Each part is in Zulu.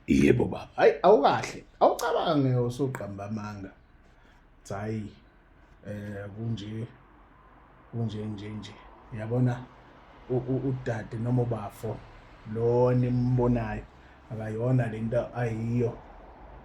yebo baba hayi awukahle awucabange usuqamba amanga hayi eh kunje kunje nje nje yabona udade noma ubafo lo nimbonayo akayona lento ayiyo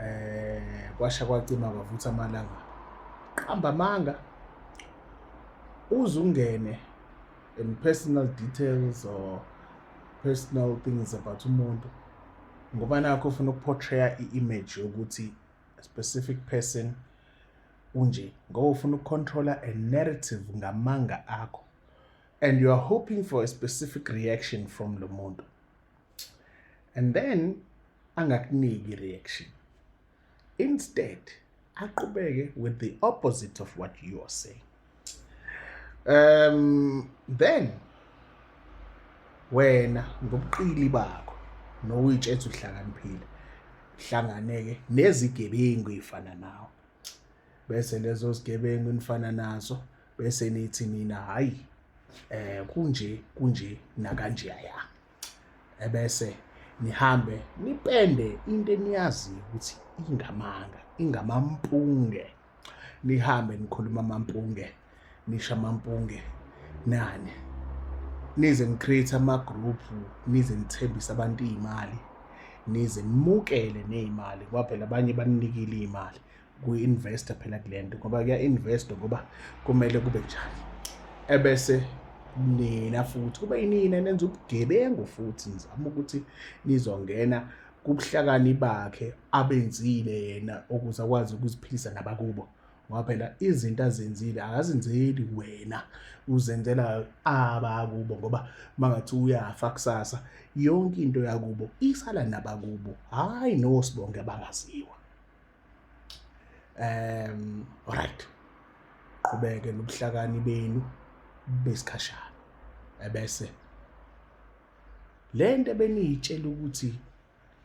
eh kwasha kwacima kwavutha amalanga qamba amanga uzungene and personal details or personal things about umuntu ngoba nakho ufuna ukuportraya i-image yokuthi a specific person unje ngoba ufuna ukucontrola a narrative ngamanga akho and you are hoping for a specific reaction from lo muntu and then angakuniki i-reaction instead aqubeke with the opposite of what you are saying um then wena ngobuqili bakho nokuyitshetha uhlakaniphile hlanganeke nezigebengu ifana nawe bese lezo zigebengu nifana nazo bese nithi nina hayi eh kunje kunje nakanjeyaya ebese nihambe nipende into eniyaziyo ukuthi ingamanga ingamampunge nihambe nikhuluma amampunge nisha amampunge nani nize ngicreate ama-group nize ngithembise abantu iy'mali nize nimukele ney'mali ngoba phela abanye baninikile iy'mali kuyi-investa phela kule nto ngoba kuya-investwa ngoba kumele kube njani ebese nina futhi kube yinina nenza ubugebengu futhi nizama ukuthi nizongena kubuhlakani bakhe abenzile yena ukuze akwazi ukuziphilisa nabakubo ngoba phela izinto azenzile akazenzeli wena uzenzela abakubo ngoba mangathi uyafa kusasa yonke into yakubo isala nabakubo hhayi nosibonke abangaziwa um right qhubeke nobuhlakani benu besikhashana ebese lento beniyitshela ukuthi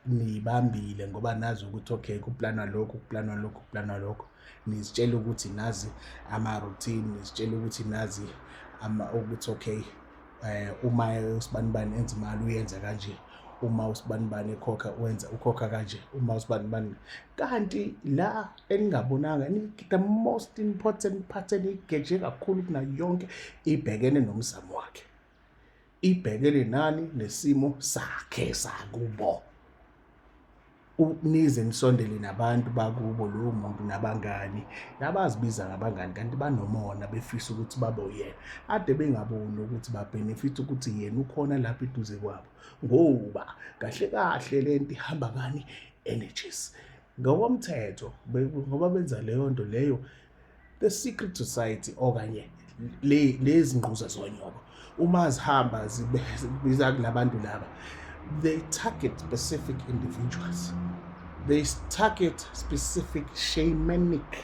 niyibambile ngoba nazi ukuthi okay kuplanwa lokhu kuplanwa lokhu kuplanwa lokhu nizitshela ukuthi nazi ama-routine nizitshela ukuthi nazi ama ukuthi okay eh uma usibanibani enza imali uyenza kanje uma usibanibani ekhokha wenza ukhokha kanje uma usibanibani kanti la eningabonanga the most important part enigeje kakhulu kunayo yonke ibhekene nomzamo wakhe ibhekene nani nesimo sakhe sakubo nize nisondele nabantu bakubo lowo muntu nabangani nabazibiza ngabangani kanti banomona befisa ukuthi babe uyena ade bengaboni ukuthi babhenefitha ukuthi yena ukhona lapha eduze kwabo ngoba kahle kahle le nto ihamba ngani energies ngokomthetho ngoba benza leyo nto leyo the secret society okanye le lezi ngquza zonyoko uma zihamba zibiza kulabantu laba they target specific individuals they target specific shamanic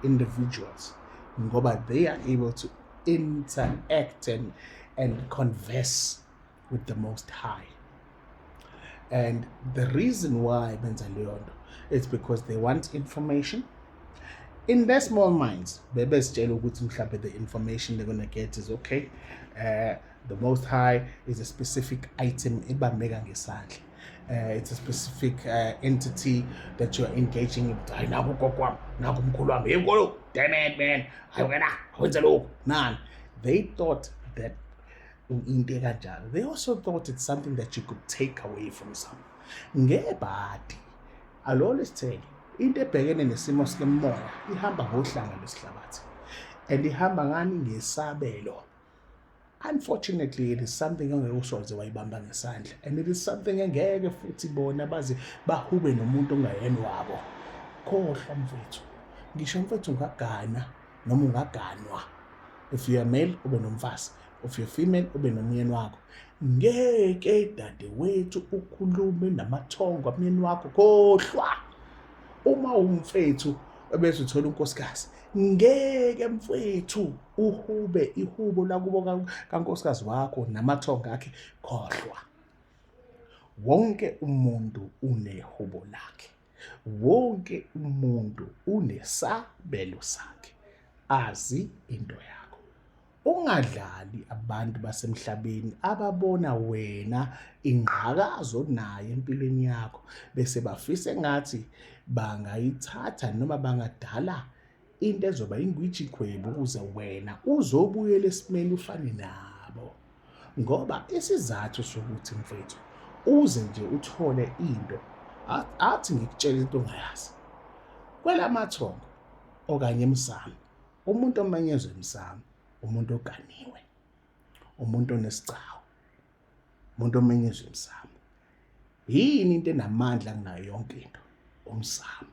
individuals ngoba they are able to interact and, and converse with the most high and the reason why benza leyo nto it's because they want information in their small minds bebezitshela ukuthi mhlawumbe the information they're gonna get is okay uh, the most high is a specific item ebambeka ngesandla uh, it's a specific uh, entity that you're engaging with hayi naku ugogo wami naku umkhulu wami hey nkulu damn it man hayi wena wenze lokhu nani they thought that into ekanjalo they also thought it's something that you could take away from some ngebhadi alolo sithele into ebhekene nesimo sikemoya ihamba ngohlanga lwesihlabathi and ihamba ngani ngesabelo unfortunately it is something ongeke usoze wayibamba ngesandla and it is something engeke futhi bona baze bahube nomuntu ongayeni wabo khohlwa mfethu ngisho mfethu ngagana noma ungaganwa if you are male ube nomfazi if you female ube nomyeni wakho ngeke dadewethu ukhulume namathongo amyeni wakho khohlwa uma umfethu ebese uthola unkosikazi ngeke mfethu uhube ihubo lakubo kankosikazi wakho namathongo akhe khohlwa wonke umuntu unehubo lakhe wonke umuntu unesabelo sakhe azi into yakho ungadlali abantu basemhlabeni ababona wena ingqakazi onayo empilweni yakho bese bafisa engathi bangayithatha noma bangadala into ezoba ingwiji khwebu ukuze wena uzobuyela esimeni ufane nabo ngoba isizathu sokuthi mfethu uze nje uthole into athi ngikutshela into ongayazi kwelamathongo okanye emsamo umuntu omenyezwe emsamo umuntu oganiwe umuntu onesigcawu umuntu omenyezwe emsamo yini into enamandla kunayo yonke into umsamo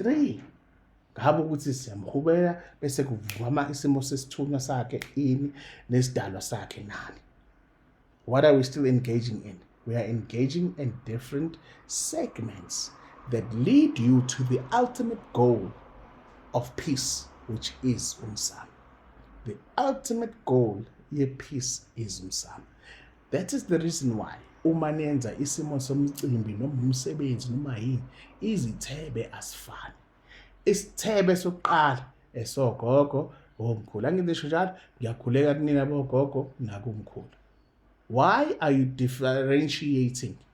3 ngabe ukuthi siyamhubela bese kuvukama isimo sesithunywa sakhe ini nesidalwa sakhe nani what are we still engaging in we are engaging in different segments that lead you to the ultimate goal of peace which is umsamo the ultimate goal ye-peace is umsamo that is the reason why uma nenza isimo somcimbi noma umsebenzi noma yini izithebe asifani isithebe sokuqala esogogo omkhulu angizisho njalo ngiyakhuleka kunina bogogo nakumkhulu why are you differentiating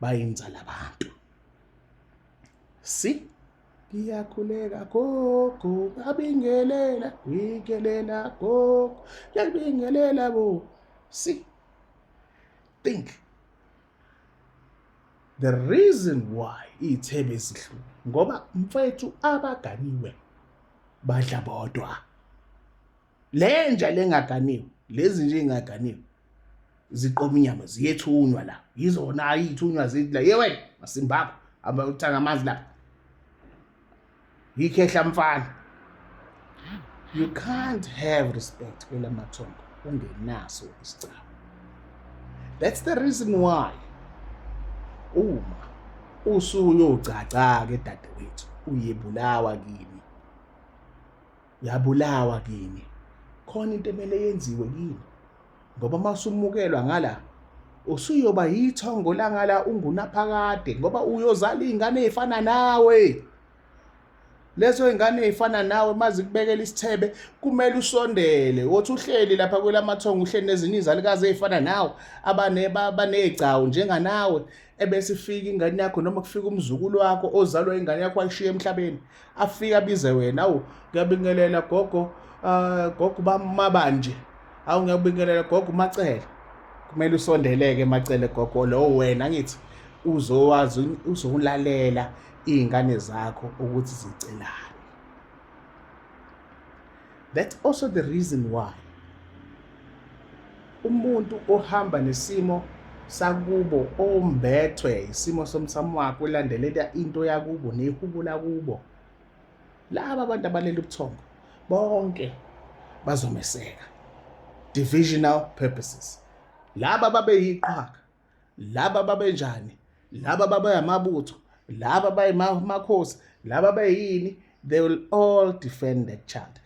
bayinzala abantu si ngiyakhuleka gogo ngabingelela ngikelela gogo ngiyabingelela bo si think the reason why iy'thebe ezihlule ngoba mfethu abaganiwe badla bodwa le nja lengaganiwe lezi nje ingaganiwe ziqoma inyama ziyethunywa la yizona ayithunywa zithi la ye wena masimbaba aba uthanga amanzi la yikhehla mfana you can't have respect kwela mathongo ungenaso isicaba that's the reason why uma usuyogcagcaka edadewethu uyebulawa kimi yabulawa kini khona into emele yenziwe kini ngoba uma usumukelwa ngala usuyoba yithongo langala ungunaphakade ngoba uyozala iy'ngane ey'fana nawe lezo ingane ey'fana nawe uma zikubekela isithebe kumele usondele wothi uhleli lapha kwelamathongo uhleli nezinye izalukazi ey'fana nawe abaney'gcawu njenganawe ebese ifika ingane yakho noma kufika umzukulu wakho ozalwa ingane yakho ayishiye emhlabeni afike abize wena awu ngiyabingelela gogo uh, gogo bamabanje awu ngiyabingelela gogo macele kumele usondeleke macele gogo lowo wena ngithi uzowazi uzowulalela iy'ngane zakho ukuthi zicelani That's also the reason why umuntu ohamba nesimo sakubo ombethwe isimo somsamo wakhe ulandelela into yakubo nehubo lakubo laba abantu abalele ubuthongo bonke bazomeseka divisional purposes laba babeyiqhaka laba babenjani laba babayamabutho laba bayimakhosi laba bayini they will all defend that child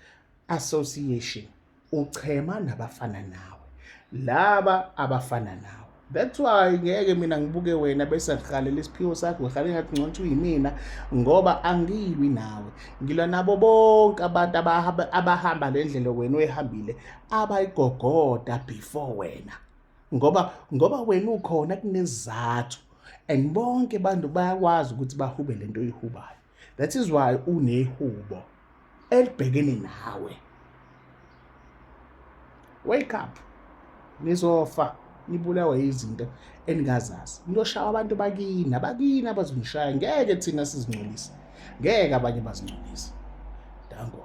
association uchema nabafana nawe laba abafana nawe that's why ngeke mina ngibuke wena bese ngihalela isiphiwo sakho ngihalela ngathi ngcono ukuthi uyimina ngoba angilwi nawe ngilwa nabo bonke abantu abahamba le ndlela wena oyihambile abayigogoda before wena ngoba ngoba wena ukhona kunezizathu and bonke abantu bayakwazi ukuthi bahube le nto oyihubayo that is why unehubo elibhekene nawe wake up nizofa nibulawe izinto eningazazi niyoshawa abantu bakini abakini abazonishaya ngeke thina sizingcolise ngeke abanye bazingcolise danko